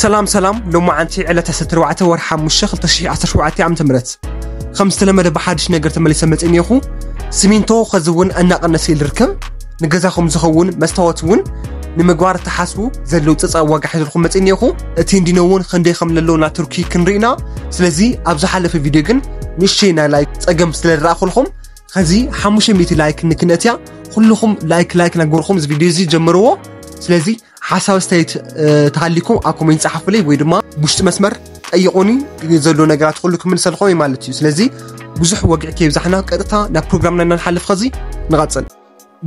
ሰላም ሰላም ሎማዓንቲ ዕለት 14 ወር 5 2017 ዓ ም ከም ዝተለመደ ብሓድሽ ነገር ተመሊሰ መፅእ እኒኹ ሲሚንቶ ከዚ እውን እናቐነሰ ኢሉ ርከብ ንገዛኹም ዝኸውን መስታወት እውን ንምግባር ተሓስቡ ዘለው ፀፃ ዋጋ ሒዘልኩም መፅእ እኒኹ እቲ እንዲኖ እውን ክንደይ ከም ለለውና ቱርኪ ክንርኢና ስለዚ ኣብ ዝሓለፈ ቪድዮ ግን ንእሽተይ ናይ ላይክ ፀገም ስለ ዝረኣኹልኩም ከዚ 500 ላይክ ንክነትያ ኩልኹም ላይክ ላይክ ናገርኩም እዚ ቪድዮ እዚ ጀምርዎ ስለዚ ሓሳብ ኣስተያየት ተሃሊኩም ኣብ ኮሜንት ጸሓፉለይ ወይ ድማ ውሽጢ መስመር ጠይቁኒ ዘሎ ነገራት ኩሉ ክምልሰልኮ እዩ ማለት እዩ ስለዚ ብዙሕ ወግዒ ከይብዛሕና ቀጥታ ናብ ፕሮግራምና እናንሓልፍ ከዚ ንቐጽል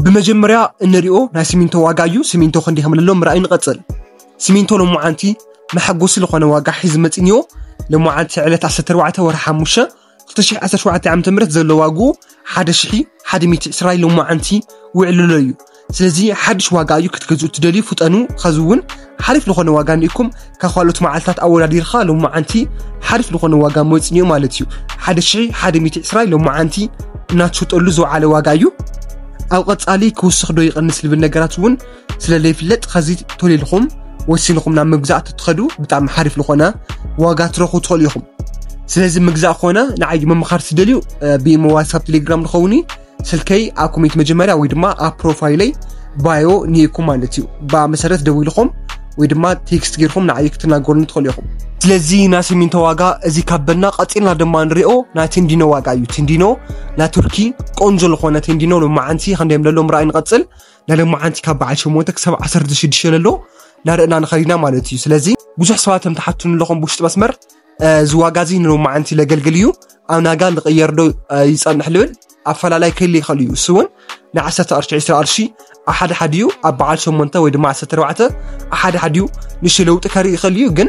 ብመጀመርያ እንሪኦ ናይ ሲሚንቶ ዋጋ እዩ ሲሚንቶ ክንዲ ከምለሎ ምርኣይ ንቐጽል ሲሚንቶ ሎማዓንቲ መሐጎሲ ዝኾነ ዋጋ ሒዝ መፂንዮ ሎማዓንቲ ዕለት 14 ወርሒ ሓሙሽተ 2017 ዓ ም ዘሎ ዋግኡ 1120 ሎማዓንቲ ውዕልሎ እዩ ስለዚ ሓድሽ ዋጋ እዩ ክትገዝኡ ትደልዩ ፍጠኑ ኸዚ እውን ሓሪፍ ዝኾነ ዋጋ ንኢኩም ካብ ካልኦት መዓልትታት ኣወዳዲርካ ሎማዓንቲ ሓሪፍ ዝኾነ ዋጋ መፅኒዮ ማለት እዩ 1120 ሎማዓንቲ እናትሸጠሉ ዝወዓለ ዋጋ እዩ ኣብ ቐፃሊ ክውስኽ ዶ ይቕንስ ልብል ነገራት እውን ስለ ዘይፍለጥ ኸዚ ቶል ኢልኹም ወሲንኹም ናብ ምግዛእ ትትኸዱ ብጣዕሚ ሓሪፍ ዝኾነ ዋጋ ትረኽቡ ትኽእሉ ኢኹም ስለዚ ምግዛእ ኮነ ንዓይ ምምኻር ትደልዩ ብኢሞ ዋትሳፕ ቴሌግራም ንኸውን እዩ ስልከይ ኣብ ኮሜንት መጀመርያ ወይ ድማ ኣብ ፕሮፋይለይ ባዮ ንኢኩም ማለት እዩ ብኣ መሰረት ደው ኢልኹም ወይ ድማ ቴክስት ጌርኩም ንዓይ ክትናገሩን ትኽእሉ ኢኹም ስለዚ ናይ ሲሚንቶ ዋጋ እዚ ካበልና ቀፂልና ድማ ንሪኦ ናይ ቴንዲኖ ዋጋ እዩ ቴንዲኖ ናይ ቱርኪ ቆንጆ ዝኾነ ቴንዲኖ ሎማዓንቲ ክንደዮም ለሎ ምርኣይ ንቐፅል ናይ ሎማዓንቲ ካብ በዓል ሸሞንተ ክሳብ ዓሰርተ ሽዱሽተ ለሎ ናርእና ንኸድ ኢና ማለት እዩ ስለዚ ብዙሕ ሰባት ከም ተሓቱ ንለኹም ብውሽጢ መስመር እዚ ዋጋ እዚ ንሎማዓንቲ ለገልግል እዩ ኣብ ናጋ ልቕየር ዶ ይፀንሕ ልብል ኣፈላላይ ክህሊ ይኽእል እዩ እሱ እውን ናይ ዓሰርተ ቅርሺ ዕስራ ቅርሺ ኣብ ሓደ ሓደ እዩ ኣብ በዓል ሸሞንተ ወይ ድማ ዓሰርተ ኣርባዕተ ኣብ ሓደ ሓደ እዩ ንሽ ለውጢ ከርኢ ይኽእል እዩ ግን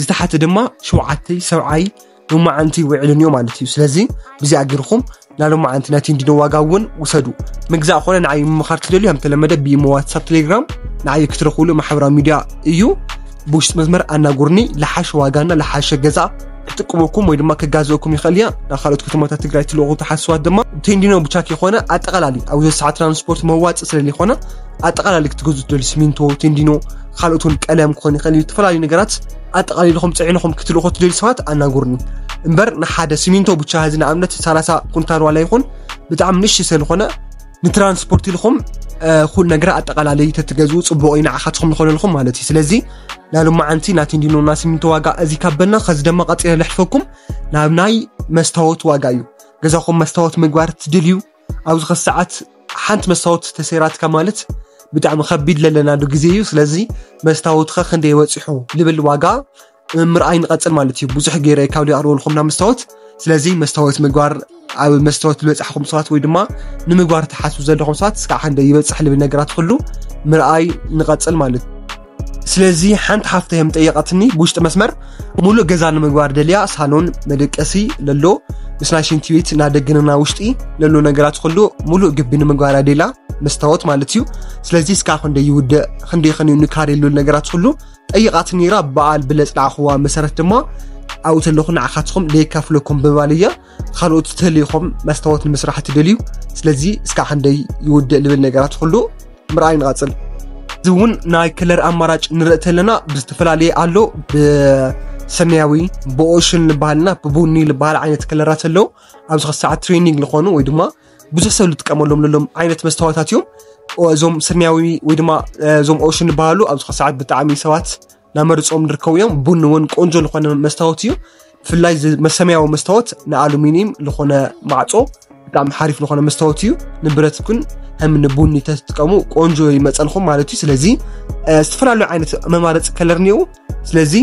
ዝተሓተ ድማ ሸውዓተይ ሰብዓይ ሎማዓንቲ ውዕልን እዮም ማለት እዩ ስለዚ ብዚኣ ጌርኹም ናይ ሎማዓንቲ ናይ ቴንዲኖ ዋጋ እውን ውሰዱ ምግዛእ ኮነ ንዓይ ምምኻር ትደልዩ ከም ተለመደ ብኢሞ ዋትሳፕ ቴሌግራም ንዓይ ክትረኽብሉ ማሕበራዊ ሚዲያ እዩ ብውሽጢ መስመር ኣናጉርኒ ልሓሸ ዋጋና ልሓሸ ገዛ ክጥቅመኩም ወይ ድማ ክጋዘእኩም ይኽእል እያ ናብ ካልኦት ከተማታት ትግራይ ትልእኹ ተሓስዋት ድማ ቴንዲኖ ብቻክ የኾነ ኣጠቓላሊ ኣብ ዘሰዓ ትራንስፖርት መዋፅ ስለለይኾነ ኣጠቓላሊ ክትገዙ ትደልዩ ሲሚንቶ፣ ቴንዲኖ፣ ካልኦት እውን ቀለም ክኾን ይኽእል እዩ ዝተፈላለዩ ነገራት ኣጠቓሊልኹም ፅዒንኹም ክትልእኹ ትደልዩ ሰባት ኣናግሩኒ እምበር ንሓደ ሲሚንቶ ብቻ እዚ ንኣብነት 30 ኩንታል ዋላ ይኹን ብጣዕሚ ንእሽ ስለዝኾነ ንትራንስፖርት ኢልኹም ኩሉ ነገር ኣጠቓላሊ ተትገዝኡ ፅቡቕ እዩ ንዓኻትኹም ዝኾነልኹም ማለት እዩ ስለዚ ናይ ሎማዓንቲ ናይ ቴንዲኖ ናይ ሲሚንቶ ዋጋ እዚ ካበልና ከዚ ድማ ቀፂለ ልሕፈኩም ናብ ናይ መስታወት ዋጋ እዩ ገዛኹም መስታወት ምግባር ትድልዩ ኣብዚ ከ ሰዓት ሓንቲ መስታወት ተሰይራትካ ማለት ብጣዕሚ ከቢድ ለለናሉ ግዜ እዩ ስለዚ መስታወትካ ክንደይ በፂሑ ልብል ዋጋ ምርኣይ ንቐፅል ማለት እዩ ብዙሕ ገይረ ካብ ሊኣርበልኩም ናብ መስታወት ስለዚ መስታወት ምግባር ኣብ መስታወት ዝበፃሕኩም ሰባት ወይ ድማ ንምግባር ትሓስቡ ዘለኹም ሰባት ስካዕ ክንደይ ይበፅሕ ልብል ነገራት ኩሉ ምርኣይ ንቐፅል ማለት እዩ ስለዚ ሓንቲ ሓፍተ የም ጠየቐትኒ ብውሽጢ መስመር ሙሉእ ገዛ ንምግባር ደልያ ሳሎን መደቀሲ ለሎ ምስ ናይ ሽንቲ ቤት እና ደግንና ውሽጢ ለሎ ነገራት ኩሉ ሙሉእ ግቢ ንምግባር ኣደላ መስታወት ማለት እዩ ስለዚ እስካ ክንደ ይውድእ ክንደ ክንዩ ንካር የሉ ነገራት ኩሉ ጠይቃት ነራ በዓል ብለፅናዕክዋ መሰረት ድማ ኣብኡ ተለኹ ንዓካትኹም ለየካፍለኩም ብምባል እያ ካልኦት ዝተልይኹም መስታወት ንምስራሕ ትደልዩ ስለዚ እስካ ክንደይ ይውድእ ልብል ነገራት ኩሉ ምርኣይ ንቐፅል እዚ እውን ናይ ክለር ኣማራጭ ንርኢ ተለና ብዝተፈላለየ ኣሎ ብሰማያዊ ብኦሽን ዝበሃልና ብቡኒ ዝበሃል ዓይነት ክለራት ኣለዉ ኣብዚ ክሳዕ ትሬኒንግ ዝኾኑ ወይ ድማ ብዙሕ ሰብ ዝጥቀመሎም ለሎም ዓይነት መስታወታት እዮም እዞም ሰማያዊ ወይ ድማ እዞም ኦሽን ዝበሃሉ ኣብዚ ክሳዕ ብጣዕሚ ሰባት ናመርፅኦም ንርከቡ እዮም ቡን እውን ቆንጆ ዝኾነ መስታወት እዩ ብፍላይ መሰመያዊ መስታወት ንኣሉሚኒየም ዝኾነ ማዕፆ ብጣዕሚ ሓሪፍ ዝኾነ መስታወት እዩ ንብረት ግን ከም ንቡኒ ተትጥቀሙ ቆንጆ ይመፀልኹም ማለት እዩ ስለዚ ዝተፈላለዩ ዓይነት መማረፂ ከለር እኒኡ ስለዚ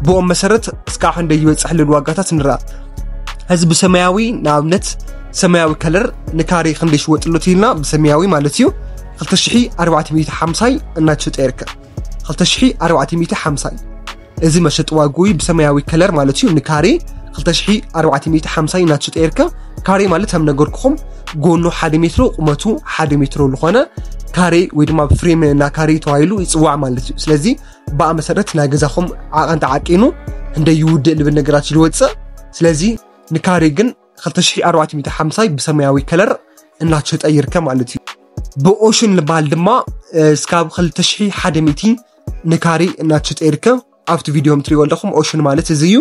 ብኦም መሰረት እስካዕ ክንደይ ይበፅሕ ልል ዋጋታት ንርኣ እዚ ብሰማያዊ ንኣብነት ሰማያዊ ከለር ንካሬ ክንደይ ሽወጥሎት ኢልና ብሰማያዊ ማለት እዩ 2450 እናተሸጠ ይርከብ 2450 እዩ እዚ መሸጢ ዋግኡ እዩ ብሰማያዊ ከለር ማለት እዩ ንካሬ 2450 እዩ ናትሽጠ ይርከ ካሬ ማለት ከም ነገርኩኹም ጎኑ ሓደ ሜትሮ ቁመቱ ሓደ ሜትሮ ዝኾነ ካሬ ወይ ድማ ፍሬም እና ካሬ ተባሂሉ ይፅዋዕ ማለት እዩ ስለዚ ብኣ መሰረት ናይ ገዛኹም ዓቐን ተዓቂኑ እንደ ይውድእ ልብል ነገራት ይወፅእ ስለዚ ንካሬ ግን 2450 ብሰማያዊ ከለር እናሸጠ ይርከብ ማለት እዩ ብኦሽን ዝበሃል ድማ እስካብ 2100 ንካሬ እናተሸጠ ይርከብ ኣብቲ ቪድዮ ትሪእዎ ኣለኹም ኦሽን ማለት እዚ እዩ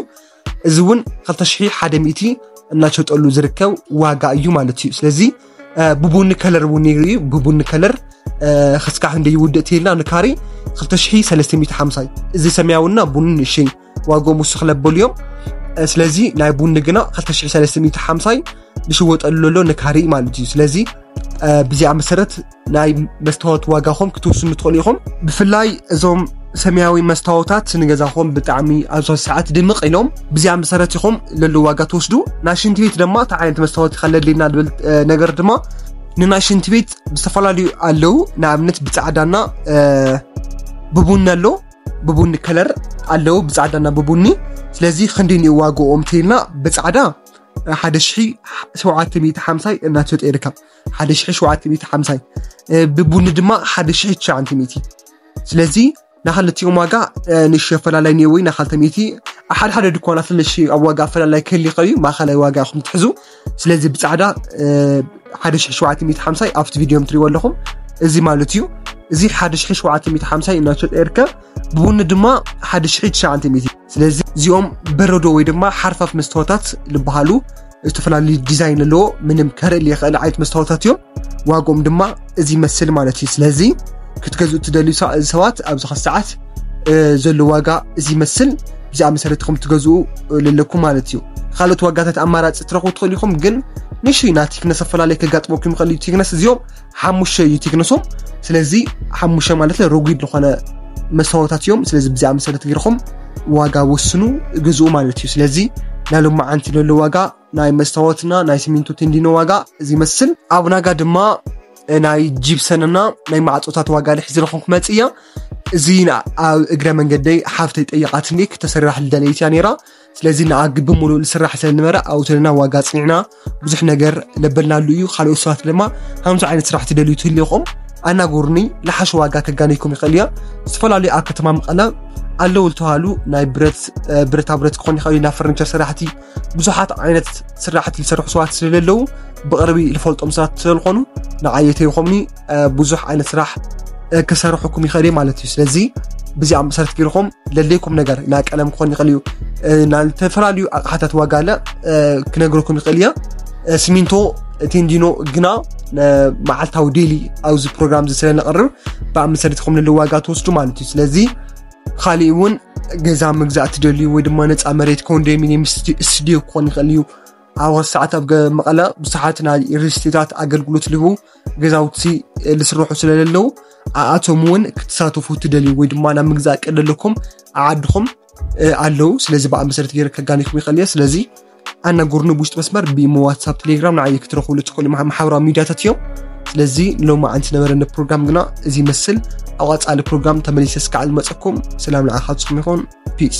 እዚ እውን 2100 እናሸጠሉ ዝርከብ ዋጋ እዩ ማለት እዩ ስለዚ ብቡኒ ከለር እውን ነይሩ እዩ ብቡኒ ከለር ክስካሕ እንደ ይውድእ ትልና ንካሬ 2350 እዚ ሰማያዊና ቡኒ ንእሸይ ዋግኦም ውስኽ ለበሉ እዮም ስለዚ ናይ ቡኒ ግና 2350 ዝሽወጠሉ ዘሎ ንካሪ ማለት እዩ ስለዚ ብዚኣ መሰረት ናይ መስታወት ዋጋኹም ክትውስኑ ትኽእሉ ኢኹም ብፍላይ እዞም ሰማያዊ መስታወታት ንገዛኹም ብጣዕሚ ኣብዚ ሰዓት ድምቕ ኢሎም ብዚኣ መሰረት ኢኹም ለሉ ዋጋ ትወስዱ ናይ ሽንቲ ቤት ድማ እቲ ዓይነት መስታወት ከለድልና ዝብል ነገር ድማ ንናይ ሽንቲ ቤት ዝተፈላለዩ ኣለዉ ንኣብነት ብፃዕዳና ብቡኒ ኣሎ ብቡኒ ከለር ኣለዉ ብፃዕዳና ብቡኒ ስለዚ ክንዲ እዩ ዋግኦም እንተይልና ብፃዕዳ 1750 እናተሸጠ ይርከብ 1750 ብቡኒ ድማ 1900 ስለዚ ንክልቲኦም ዋጋ ንሽ ኣፈላላይ እኒኦ ወይ ንካልተ ሚእቲ ኣብ ሓደ ሓደ ድኳናት ንሽ ኣብ ዋጋ ኣፈላላይ ክህሊ ይኽእል እዩ ማእኸላይ ዋጋ ኢኹም ትሕዙ ስለዚ ብፃዕዳ 1750 ኣብቲ ቪድዮ ትሪእዎ ኣለኹም እዚ ማለት እዩ እዚ 1750 እናሸጠ ይርከብ ብቡኒ ድማ 1900 ስለዚ እዚኦም በረዶ ወይ ድማ ሓርፋፍ መስተዋታት ዝበሃሉ ዝተፈላለዩ ዲዛይን ኣለዎ ምንም ከርእል የኽእል ዓይነት መስተዋታት እዮም ዋግኦም ድማ እዚ ይመስል ማለት እዩ ስለዚ ክትገዝኡ እትደልዩ ሰባት ኣብዚ ኸ ሰዓት ዘሎ ዋጋ እዚ ይመስል ብዛኣ መሰረት ከም ትገዝኡ ለለኩም ማለት እዩ ካልኦት ዋጋታት ኣማራፂ ትረኽቡ ትኽእሉ ኢኹም ግን ንሽይ ናብ ቲክነስ ኣፈላለየ ከጋጥመኩም ይኽእል እዩ ቲክነስ እዚኦም ሓሙሸ እዩ ቲክነሶም ስለዚ ሓሙሸ ማለት ረጒድ ዝኾነ መሰዋታት እዮም ስለዚ ብዛኣ መሰረት ገይርኹም ዋጋ ወስኑ ግዝኡ ማለት እዩ ስለዚ ናይ ሎማዓንቲ ዘሎ ዋጋ ናይ መስታወትና ናይ ሲሚንቶ ቴንዲኖ ዋጋ እዚ ይመስል ኣብ ናጋ ድማ ናይ ጂፕሰንና ናይ ማዕፆታት ዋጋ ልሕዚ ረኹም ክመፅ እያ እዚ ኣብ እግረ መንገደይ ሓፍተይ ጠየቃትኒ ክተሰራሕ ልደለይት እያ ነይራ ስለዚ ንኣግ ብምሉእ ልስራሕ ስለዝነበረ ኣውተልና ዋጋ ፅኒዕና ብዙሕ ነገር ለበልናሉ እዩ ካልኦት ሰባት ድማ ከምዚ ዓይነት ስራሕ ትደልዩ ትህልኹም ኣናጎርኒ ልሓሽ ዋጋ ከጋነይኩም ይኽእል እያ ዝተፈላለዩ ኣብ ከተማ መቐለ ኣለዉ ዝተባሃሉ ናይ ብረት ብረታ ብረት ክኾን ይኽእል እዩ ናብ ፈርኒቸር ስራሕቲ ብዙሓት ዓይነት ስራሕቲ ዝሰርሑ ሰባት ስለዘለዉ ብቕርቢ ዝፈልጦም ሰባት ስለዝኾኑ ንዓየተ ይኾምኒ ብዙሕ ዓይነት ስራሕ ክሰርሕኩም ይኽእል እዩ ማለት እዩ ስለዚ ብዚኣ መሰረት ገይርኩም ለለይኩም ነገር ናይ ቀለም ክኾን ይኽእል እዩ ናይ ዝተፈላለዩ ኣቕሓታት ዋጋ ለ ክነግረኩም ይኽእል እየ ሲሚንቶ ቴንዲኖ ግና መዓልታዊ ዴሊ ኣብዚ ፕሮግራም እዚ ስለነቕርብ ብኣብ መሰረት ይኹም ለለ ዋጋ ትወስዱ ማለት እዩ ስለዚ ኻሊእ እውን ገዛ ምግዛእ ትደልዩ ወይ ድማ ነፃ መሬት ኮንዶሚኒየም ስቱድዮ ክኾን ይኽእል እዩ ኣብ ሰዓት ኣብ መቐለ ብዙሓት ናይ ሪስቴታት ኣገልግሎት ልቡ ገዛውቲ ዝስርሑ ስለዘለዉ ኣኣቶም እውን ክትሳተፉ ትደልዩ ወይ ድማ ናብ ምግዛእ ቀደለኩም ኣዓድኹም ኣለዉ ስለዚ ብኣ መሰረት ገይረ ከጋኒኩም ይኽእል እየ ስለዚ ኣናግሩኒ ብውሽጢ መስመር ብኢሞ ዋትሳፕ ቴሌግራም ንዓይ ክትረኽብሉ ትኽእሉ ማሕበራዊ ሚዲያታት እዮም ስለዚ ሎሚ ዓንቲ ነበረኒ ፕሮግራም ግና እዚ ይመስል ኣብ ቐፃሊ ፕሮግራም ተመሊሰ እስካዕ ዝመፀኩም ሰላም ንዓኻትኩም ይኹን ፒስ